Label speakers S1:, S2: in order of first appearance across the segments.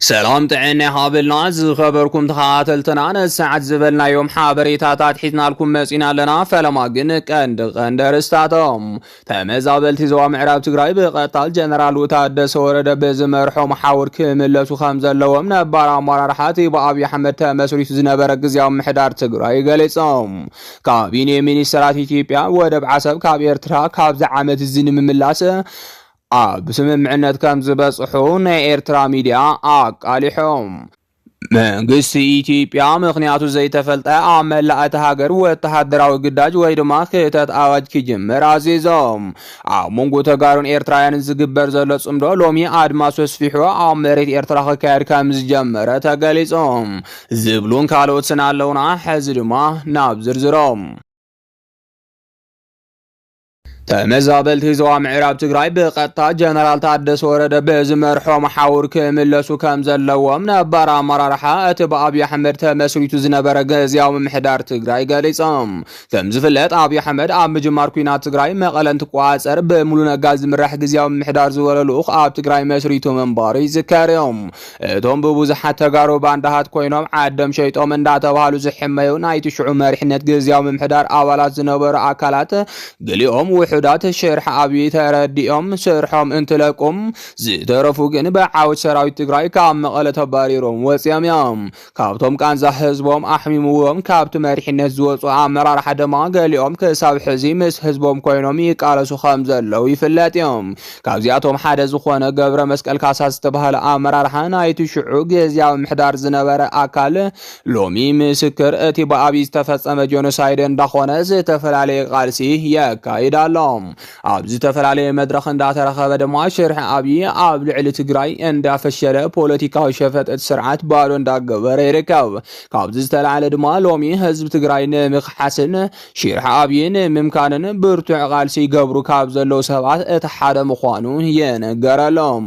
S1: ሰላም ጥዕና ይሃበልና ዝኸበርኩም ተኸታተልትና ነዚ ሰዓት ዝበልናዮም ሓበሬታታት ሒዝናልኩም መጺና ኣለና። ፈለማ ግን ቀንዲ ቀንዲ ኣርእስታቶም ተመዛበልቲ ዞባ ምዕራብ ትግራይ ብቐታል ጀነራል ታደሰ ወረደ ብዝመርሖ መሓውር ክምለሱ ከም ዘለዎም ነባር ኣመራርሓ እቲ ብኣብዪ ኣሕመድ ተመስሪቱ ዝነበረ ግዜያዊ ምሕዳር ትግራይ ገሊጾም። ካቢኔ ሚኒስተራት ኢትዮጵያ ወደብ ዓሰብ ካብ ኤርትራ ካብዚ ዓመት እዚ ንምምላስ ኣብ ስምምዕነት ከም ዝበጽሑ ናይ ኤርትራ ሚድያ ኣቃሊሑ። መንግስቲ ኢትዮጵያ ምኽንያቱ ዘይተፈልጠ ኣብ መላእ እታ ሃገር ወተሃደራዊ ግዳጅ ወይ ድማ ክተት ኣዋጅ ክጅምር ኣዚዙ። ኣብ መንጎ ተጋሩን ኤርትራውያንን ዝግበር ዘሎ ጽምዶ ሎሚ ኣድማሱ ኣስፊሑ ኣብ መሬት ኤርትራ ክካየድ ከም ዝጀመረ ተገሊጹ። ዝብሉን ካልኦትን ኣለውና። ሕዚ ድማ ናብ ዝርዝሮም። ተመዛበልቲ ዞባ ምዕራብ ትግራይ ብቐጥታ ጀነራል ታደሰ ወረደ ብዝመርሖ መሓውር ክምለሱ ከም ዘለዎም ነባር ኣመራርሓ እቲ ብኣብዪ ኣሕመድ ተመስሪቱ ዝነበረ ግዝያዊ ምምሕዳር ትግራይ ገሊፆም። ከም ዝፍለጥ ኣብዪ ኣሕመድ ኣብ ምጅማር ኩናት ትግራይ መቐለ እንትቆፃፀር ብሙሉ ነጋ ዝምራሕ ግዝያዊ ምምሕዳር ዝበሎ ልኡኽ ኣብ ትግራይ መስሪቱ ምንባሩ ይዝከር እዩ። እቶም ብብዙሓት ተጋሩ ባንዳሃት ኮይኖም ዓዶም ሸይጦም እንዳተባሃሉ ዝሕመዩ ናይቲ ሽዑ መሪሕነት ግዝያዊ ምምሕዳር ኣባላት ዝነበሩ ኣካላት ገሊኦም ውሑዳት ሽርሒ ኣብይ ተረዲኦም ስርሖም እንትለቁም ዝተረፉ ግን ብዓወት ሰራዊት ትግራይ ካብ መቐለ ተባሪሮም ወፂኦም እዮም። ካብቶም ቃንዛ ህዝቦም ኣሕሚምዎም ካብቲ መሪሕነት ዝወፁ ኣመራርሓ ድማ ገሊኦም ክሳብ ሕዚ ምስ ህዝቦም ኮይኖም ይቃለሱ ከም ዘለው ይፍለጥ እዮም። ካብዚኣቶም ሓደ ዝኾነ ገብረ መስቀል ካሳ ዝተባህለ ኣመራርሓ ናይቲ ሽዑ ግዝያዊ ምሕዳር ዝነበረ ኣካል ሎሚ ምስክር እቲ ብኣብይ ዝተፈፀመ ጆኖሳይድ እንዳኾነ ዝተፈላለየ ቃልሲ የካይድ ኣሎ። ኣብ ዝተፈላለየ መድረኽ እንዳተረኸበ ድማ ሽርሒ ኣብይ ኣብ ልዕሊ ትግራይ እንዳፈሸለ ፖለቲካዊ ሸፈጥ እቲ ስርዓት ባዶ እንዳገበረ ይርከብ። ካብዚ ዝተላዕለ ድማ ሎሚ ህዝቢ ትግራይ ንምክሓስን ሽርሒ ኣብይ ንምምካንን ብርቱዕ ቃልሲ ይገብሩ ካብ ዘለዉ ሰባት እቲ ሓደ ምዃኑ ይንገረሎም።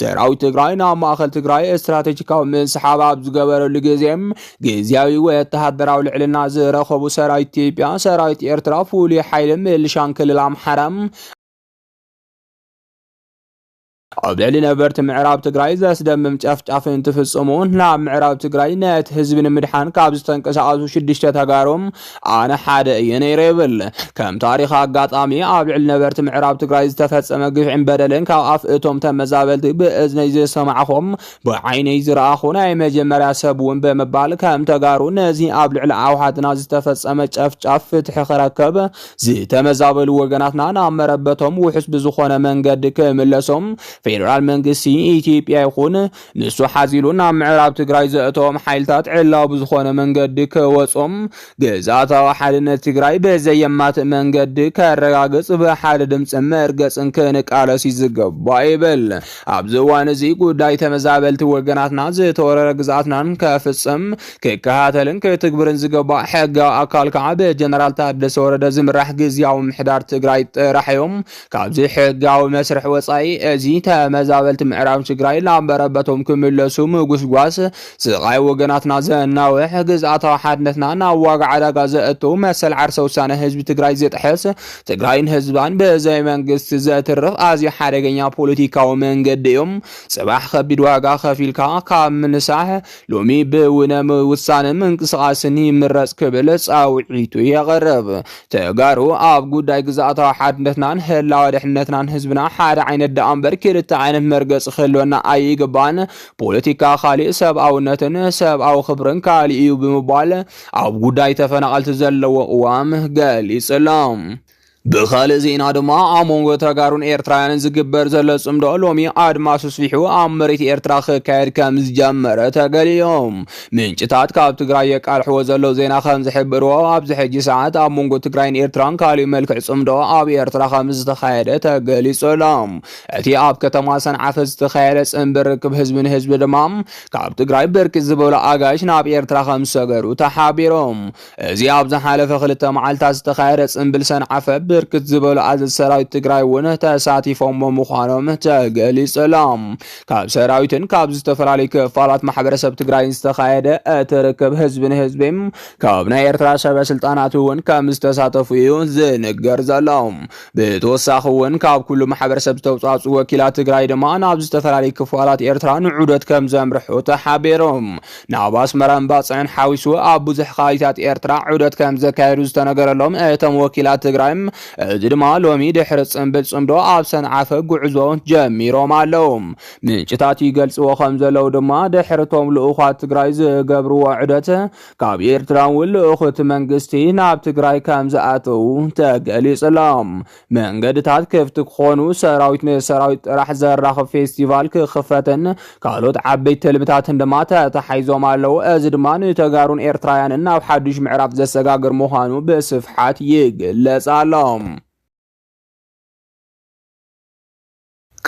S1: ሰራዊት ትግራይ ናብ ማእኸል ትግራይ ስትራቴጂካዊ ምስሓብ ኣብ ዝገበረሉ ግዜ ግዝያዊ ወተሃደራዊ ልዕልና ዝረኸቡ ሰራዊት ኢትዮጵያ፣ ሰራዊት ኤርትራ፣ ፍሉይ ሓይሊ ምልሻን ክልል ኣምሓራ ኣብ ልዕሊ ነበርቲ ምዕራብ ትግራይ ዘስደምም ጨፍጫፍ እንትፍጽሙ ናብ ምዕራብ ትግራይ ነቲ ህዝቢ ንምድሓን ካብ ዝተንቀሳቐሱ ሽዱሽተ ተጋሩ ኣነ ሓደ እየ ነይረ ይብል። ከም ታሪኽ ኣጋጣሚ ኣብ ልዕሊ ነበርቲ ምዕራብ ትግራይ ዝተፈጸመ ግፍዕን በደልን ካብ ኣፍ እቶም ተመዛበልቲ ብእዝነይ ዝሰማዕኹም ብዓይነይ ዝረኣኹ ናይ መጀመርያ ሰብ እውን ብምባል ከም ተጋሩ ነዚ ኣብ ልዕሊ ኣውሓትና ዝተፈጸመ ጨፍጫፍ ፍትሒ ክረከብ ዝተመዛበሉ ወገናትና ናብ መረበቶም ውሑስ ብዝኾነ መንገዲ ክምለሶም ፌዴራል መንግስቲ ኢትዮጵያ ይኹን ንሱ ሓዚሉ ናብ ምዕራብ ትግራይ ዘእተዎም ሓይልታት ዕላዊ ብዝኾነ መንገዲ ክወጹም፣ ግዝኣታዊ ሓድነት ትግራይ ብዘየማትእ መንገዲ ከረጋግጽ ብሓደ ድምጽን መርገጽን ክንቃለስ እዩ ዝግባእ ይብል። ኣብዚ እዋን እዚ ጉዳይ ተመዛበልቲ ወገናትና ዝተወረረ ግዝኣትናን ከፍጽም፣ ክከታተልን ክትግብርን ዝግባእ ሕጋዊ ኣካል ከዓ ብጀነራል ታደሰ ወረደ ዝምራሕ ግዝያዊ ምሕዳር ትግራይ ጥራሕ እዩ። ካብዚ ሕጋዊ መስርሕ ወፃኢ እዚ ተመዛበልቲ ምዕራብ ትግራይ ናብ መረበቶም ክምለሱ ምጉስጓስ ስቓይ ወገናትና ዘናውሕ፣ ግዝኣታዊ ሓድነትና ናብ ዋጋ ዕዳጋ ዘእቱ፣ መሰል ዓርሰ ውሳነ ህዝቢ ትግራይ ዝጥሕስ፣ ትግራይን ህዝባን ብዘይ መንግስቲ ዘትርፍ ኣዝዩ ሓደገኛ ፖለቲካዊ መንገዲ እዩ። ፅባሕ ከቢድ ዋጋ ከፊልካ ካብ ምንሳሕ ሎሚ ብውነ ውሳነ ምንቅስቓስን ይምረፅ ክብል ፃውዒቱ የቕርብ። ተጋሩ ኣብ ጉዳይ ግዝኣታዊ ሓድነትናን ህላወ ድሕነትናን ህዝብና ሓደ ዓይነት ደኣ እምበር ክልተ ዓይነት መርገፂ ክህልወና ኣይግባን። ፖለቲካ ካሊእ ሰብኣውነትን ሰብኣዊ ክብርን ካሊእ እዩ ብምባል ኣብ ጉዳይ ተፈናቐልቲ ዘለዎ ቅዋም ገሊፁ ኣሎ። ብኻልእ ዜና ድማ ኣብ መንጎ ተጋሩን ኤርትራውያንን ዝግበር ዘሎ ጽምዶ ሎሚ ኣድማሱ ስፊሑ ኣብ መሬት ኤርትራ ክካየድ ከም ዝጀመረ ተገሊዮ። ምንጭታት ካብ ትግራይ የቃልሕዎ ዘለዉ ዜና ከም ዝሕብርዎ ኣብዚ ሕጂ ሰዓት ኣብ መንጎ ትግራይን ኤርትራን ካልእ መልክዕ ጽምዶ ኣብ ኤርትራ ከም ዝተኻየደ ተገሊጹ ኣሎ። እቲ ኣብ ከተማ ሰንዓፈ ዝተኻየደ ጽምቢ ርክብ ህዝቢ ንህዝቢ ድማ ካብ ትግራይ ብርክት ዝበሉ ኣጋይሽ ናብ ኤርትራ ከም ዝሰገሩ ተሓቢሮም። እዚ ኣብ ዝሓለፈ ክልተ መዓልታት ዝተኻየደ ጽንብል ሰንዓፈ ብርክት ዝበሉ ኣዘዝ ሰራዊት ትግራይ እውን ተሳቲፎሞ ምዃኖም ተገሊጸሎም ካብ ሰራዊትን ካብ ዝተፈላለዩ ክፋላት ማሕበረሰብ ትግራይን ዝተኻየደ እቲ ርክብ ህዝቢ ንህዝቢ ካብ ናይ ኤርትራ ሰበ ስልጣናት እውን ከም ዝተሳተፉ እዩ ዝንገር ዘሎ ብተወሳኺ እውን ካብ ኩሉ ማሕበረሰብ ዝተውፃፁ ወኪላት ትግራይ ድማ ናብ ዝተፈላለዩ ክፋላት ኤርትራ ንዑደት ከም ዘምርሑ ተሓቢሮም ናብ ኣስመራን ባጽዕን ሓዊሱ ኣብ ብዙሕ ከባቢታት ኤርትራ ዑደት ከም ዘካየዱ ዝተነገረሎም እቶም ወኪላት ትግራይ እዚ ድማ ሎሚ ድሕሪ ጽምብል ጽምዶ ኣብ ሰንዓፈ ጉዕዞ ጀሚሮም ኣለዉ። ምንጭታት ይገልጽዎ ከም ዘለዉ ድማ ድሕርቶም ልኡዃት ትግራይ ዝገብርዎ ዑደት ካብ ኤርትራ እውን ልኡኽት መንግስቲ ናብ ትግራይ ከም ዝኣተዉ ተገሊጹሎም። መንገድታት ክፍቲ ክኾኑ፣ ሰራዊት ንሰራዊት ጥራሕ ዘራኽብ ፌስቲቫል ክኽፈትን ካልኦት ዓበይቲ ትልምታትን ድማ ተታሓሒዞም ኣለዉ። እዚ ድማ ንተጋሩን ኤርትራውያንን ናብ ሓዱሽ ምዕራፍ ዘሰጋግር ምዃኑ ብስፍሓት ይግለጽ ኣሎ።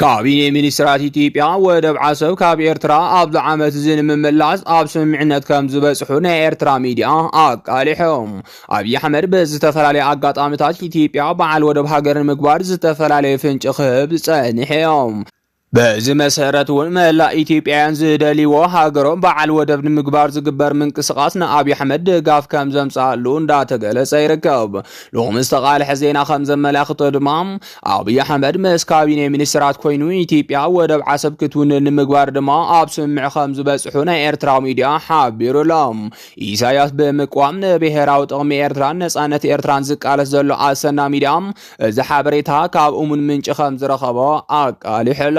S1: ካቢኔ ሚኒስትራት ኢትዮጵያ ወደብ ዓሰብ ካብ ኤርትራ ኣብዚ ዓመት እዚ ንምምላስ ኣብ ስምምዕነት ከም ዝበጽሑ ናይ ኤርትራ ሚዲያ ኣቃሊሖም። ኣብዪ ኣሕመድ ብዝተፈላለየ ኣጋጣሚታት ኢትዮጵያ በዓል ወደብ ሃገር ንምግባር ዝተፈላለየ ፍንጭ ክህብ ጸኒሐዮም። በዚ መሰረት እውን መላእ ኢትዮጵያውያን ዝደልይዎ ሃገሮም በዓል ወደብ ንምግባር ዝግበር ምንቅስቓስ ንኣብዪ ኣሕመድ ድጋፍ ከም ዘምጽኣሉ እንዳተገለጸ ይርከብ። ሎሚ ዝተቓልሐ ዜና ከም ዘመላኽቶ ድማ ኣብይ ኣሕመድ ምስ ካቢኔ ሚኒስትራት ኮይኑ ኢትዮጵያ ወደብ ዓሰብ ክትውንን ንምግባር ድማ ኣብ ስምምዕ ከም ዝበፅሑ ናይ ኤርትራ ሚዲያ ሓቢሩ ኣሎ። ኢሳያስ ብምቅዋም ንብሔራዊ ጥቕሚ ኤርትራን ነፃነት ኤርትራን ዝቃለስ ዘሎ ኣሰና ሚዲያ እዚ ሓበሬታ ካብ እሙን ምንጪ ከም ዝረኸቦ ኣቃሊሑ ኣሎ።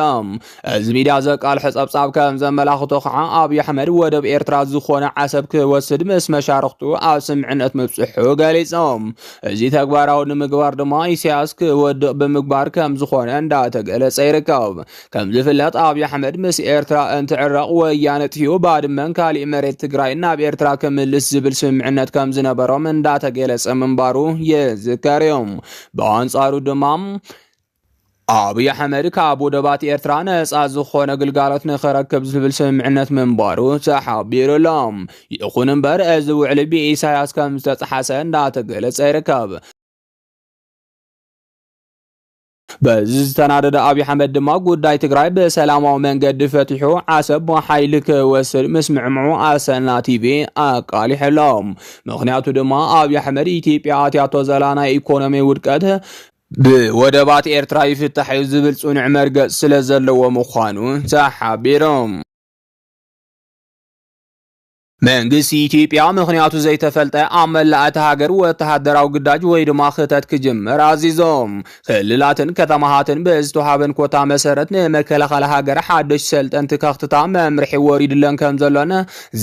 S1: እዚ ሚድያ ዘቃልሖ ጸብጻብ ከም ዘመላኽቶ ከዓ ኣብዪ ኣሕመድ ወደብ ኤርትራ ዝኾነ ዓሰብ ክወስድ ምስ መሻርኽቱ ኣብ ስምዕነት ምብጽሑ ገሊጾም። እዚ ተግባራዊ ንምግባር ድማ ኢሳያስ ክወድቕ ብምግባር ከም ዝኾነ እንዳተገለጸ ይርከብ። ከም ዝፍለጥ ኣብዪ ኣሕመድ ምስ ኤርትራ እንትዕረቕ ወያነ ጥፊኡ ባድመን ካሊእ መሬት ትግራይን ናብ ኤርትራ ክምልስ ዝብል ስምምዕነት ከም ዝነበሮም እንዳተገለጸ ምንባሩ ይዝከር እዩ። ብኣንጻሩ ድማ ኣብይ ኣሕመድ ካብ ወደባት ኤርትራ ነፃ ዝኾነ ግልጋሎት ንኸረክብ ዝብል ስምምዕነት ምንባሩ ተሓቢሩ ኣሎ። ይኹን እምበር እዚ ውዕሊ ብኢሳያስ ከም ዝተፀሓሰ እንዳተገለፀ ይርከብ። በዚ ዝተናደደ ኣብዪ ኣሕመድ ድማ ጉዳይ ትግራይ ብሰላማዊ መንገዲ ፈቲሑ ዓሰብ ብሓይሊ ክወስድ ምስምዕምዑ ኣሰና ቲቪ ኣቃሊሑ ኣሎ። ምክንያቱ ድማ ኣብዪ ኣሕመድ ኢትዮጵያ ኣትያቶ ዘላ ናይ ኢኮኖሚ ውድቀት ብወደባት ኤርትራ ይፍታሕ እዩ ዝብል ጽኑዕ መርገጽ ስለ ዘለዎ ምዃኑ ተሓቢሮም። መንግስቲ ኢትዮጵያ ምኽንያቱ ዘይተፈልጠ ኣብ መላእ እቲ ሃገር ወተሃደራዊ ግዳጅ ወይ ድማ ክተት ክጅምር ኣዚዞም። ክልላትን ከተማሃትን ብዝተዋሃበን ኮታ መሰረት ንመከላኸሊ ሃገር ሓደሽ ሰልጠንቲ ከኽትታ መምርሒ ወሪድለን ከም ዘሎን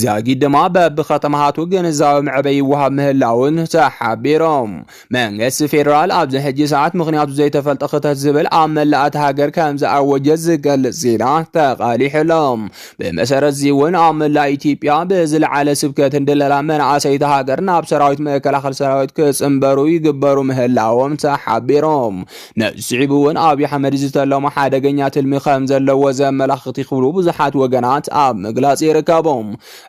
S1: ዛጊድ ድማ በብከተማሃቱ ግንዛዊ መዕበይ ይወሃብ ምህላውን ተሓቢሮም። መንግስቲ ፌደራል ኣብዚ ሕጂ ሰዓት ምኽንያቱ ዘይተፈልጠ ክተት ዝብል ኣብ መላእ እታ ሃገር ከም ዝኣወጀ ዝገልጽ ዜና ተቓሊሑ ኣሎ። ብመሰረት'ዚ እውን ኣብ መላእ ኢትዮጵያ ብዝለዓለ ስብከትን ድለላ መናእሰይ እታ ሃገር ናብ ሰራዊት መከላኸሊ ሰራዊት ክጽንበሩ ይግበሩ ምህላዎም ተሓቢሮም። ነዚ ስዒቡ እውን ኣብይ ኣሕመድ ዝተለሞ ሓደገኛ ትልሚ ከም ዘለዎ ዘመላኽት ይኽብሉ ብዙሓት ወገናት ኣብ ምግላጽ ይርከቡ።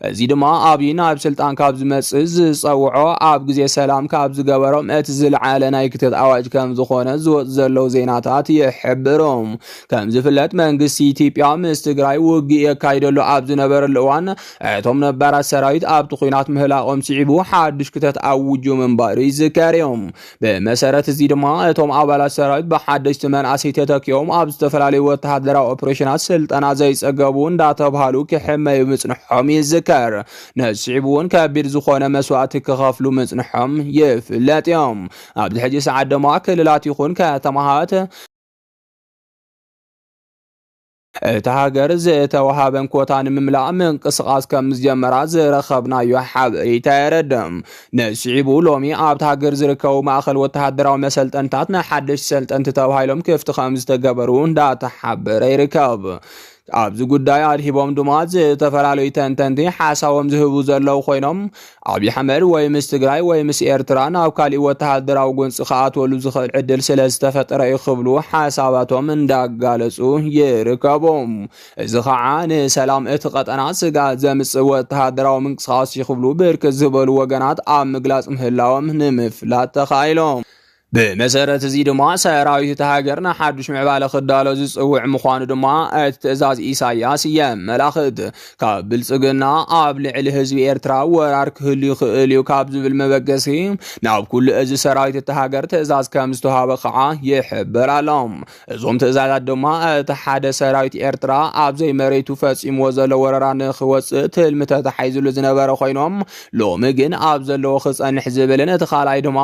S1: እዚ ድማ ኣብይ ናብ ስልጣን ካብ ዝመጽእ ዝጸውዖ ኣብ ግዜ ሰላም ካብ ዝገበሮም እቲ ዝለዓለ ናይ ክተት ኣዋጅ ከም ዝኾነ ዝወጽ ዘለዉ ዜናታት ይሕብሩ። ከም ዝፍለጥ መንግስቲ ኢትዮጵያ ምስ ትግራይ ውግእ የካይደሉ ኣብ ዝነበረሉ እዋን እቶም ነባራት ሰራዊት ኣብቲ ኩናት ምህላቆም ስዒቡ ሓድሽ ክተት ኣውጁ ምንባሩ ይዝከር እዩ። ብመሰረት እዚ ድማ እቶም ኣባላት ሰራዊት ብሓደሽቲ መናእሰይ ተተኪኦም ኣብ ዝተፈላለዩ ወተሃደራዊ ኦፕሬሽናት ስልጠና ዘይጸገቡ እንዳተብሃሉ ክሕመዩ ምጽንሖም ይዝከር። ነስዒቡ እውን ከቢድ ዝኾነ መስዋእቲ ክኸፍሉ ምጽንሖም ይፍለጥ እዮም። ኣብዚ ሕጂ ሰዓት ድማ ክልላት ይኹን ከተማሃት እታ ሃገር ዝተወሃበን ኮታ ንምምላእ ምንቅስቓስ ከም ዝጀመራ ዝረኸብናዮ ሓበሬታ የረድእ። ንስዒቡ ሎሚ ኣብታ ሃገር ዝርከቡ ማእኸል ወተሃደራዊ መሰልጠንታት ንሓደሽቲ ሰልጠንቲ ተባሂሎም ክፍቲ ከም ዝተገበሩ እንዳተሓበረ ይርከብ። ኣብዚ ጉዳይ ኣድሂቦም ድማ ዝተፈላለዩ ተንተንቲ ሓሳቦም ዝህቡ ዘለዉ ኮይኖም ኣብይ ኣሕመድ ወይ ምስ ትግራይ ወይ ምስ ኤርትራ ናብ ካሊእ ወተሃደራዊ ጎንፂ ክኣትወሉ ዝኽእል ዕድል ስለ ዝተፈጠረ እዩ ክብሉ ሓሳባቶም እንዳጋለፁ ይርከቡ። እዚ ከዓ ንሰላም እቲ ቀጠና ስግኣት ዘምፅእ ወተሃደራዊ ምንቅስቓስ እዩ ክብሉ ብርክት ዝበሉ ወገናት ኣብ ምግላፅ ምህላዎም ንምፍላጥ ተኻኢሎም። ብመሰረት እዚ ድማ ሰራዊት እቲ ሃገር ንሓዱሽ ምዕባለ ክዳሎ ዝፅውዕ ምዃኑ ድማ እቲ ትእዛዝ ኢሳያስ የመላኽት። ካብ ብልፅግና ኣብ ልዕሊ ህዝቢ ኤርትራ ወራር ክህሉ ይኽእል እዩ ካብ ዝብል መበገሲ ናብ ኩሉ እዚ ሰራዊት እቲ ሃገር ትእዛዝ ከም ዝተዋሃበ ከዓ ይሕበር ኣሎ። እዞም ትእዛዛት ድማ እቲ ሓደ ሰራዊት ኤርትራ ኣብ ዘይመሬቱ ፈጺምዎ ዘሎ ወረራ ንኽወጽእ ትልሚ ተታሒዝሉ ዝነበረ ኮይኖም ሎሚ ግን ኣብ ዘለዎ ክጸንሕ ዝብልን እቲ ካልኣይ ድማ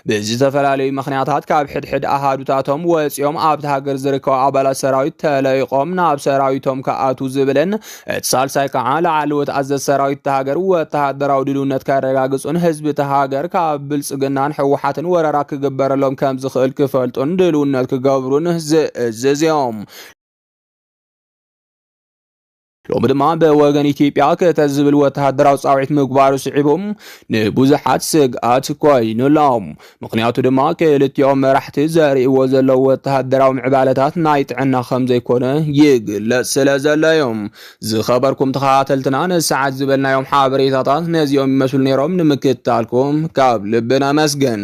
S1: ብዝተፈላለዩ ምኽንያታት ካብ ሕድሕድ ኣሃዱታቶም ወጺኦም ኣብቲ ሃገር ዝርከቡ ኣባላት ሰራዊት ተለይቖም ናብ ሰራዊቶም ክኣትዉ ዝብልን እቲ ሳልሳይ ከዓ ላዕለዎት ኣዘዝ ሰራዊት እታ ሃገር ወተሃደራዊ ድልውነት ከረጋግፁን ህዝቢ እታ ሃገር ካብ ብልፅግናን ሕወሓትን ወረራ ክግበረሎም ከም ዝኽእል ክፈልጡን ድልውነት ክገብሩን ዝእዝዝ እዮም። ሎሚ ድማ ብወገን ኢትዮጵያ ክተ ዝብል ወተሃደራዊ ፃውዒት ምግባሩ ስዒቡ ንብዙሓት ስግኣት ኮይኑሎም ምኽንያቱ ድማ ክልቲኦም መራሕቲ ዘርእይዎ ዘለዉ ወተሃደራዊ ምዕባለታት ናይ ጥዕና ከም ዘይኮነ ይግለጽ ስለ ዘሎ እዩ። ዝኸበርኩም ተኸታተልትና ንሰዓት ዝበልናዮም ሓበሬታታት ነዚኦም ይመስሉ ነይሮም። ንምክትታልኩም ካብ ልቢ ነመስግን።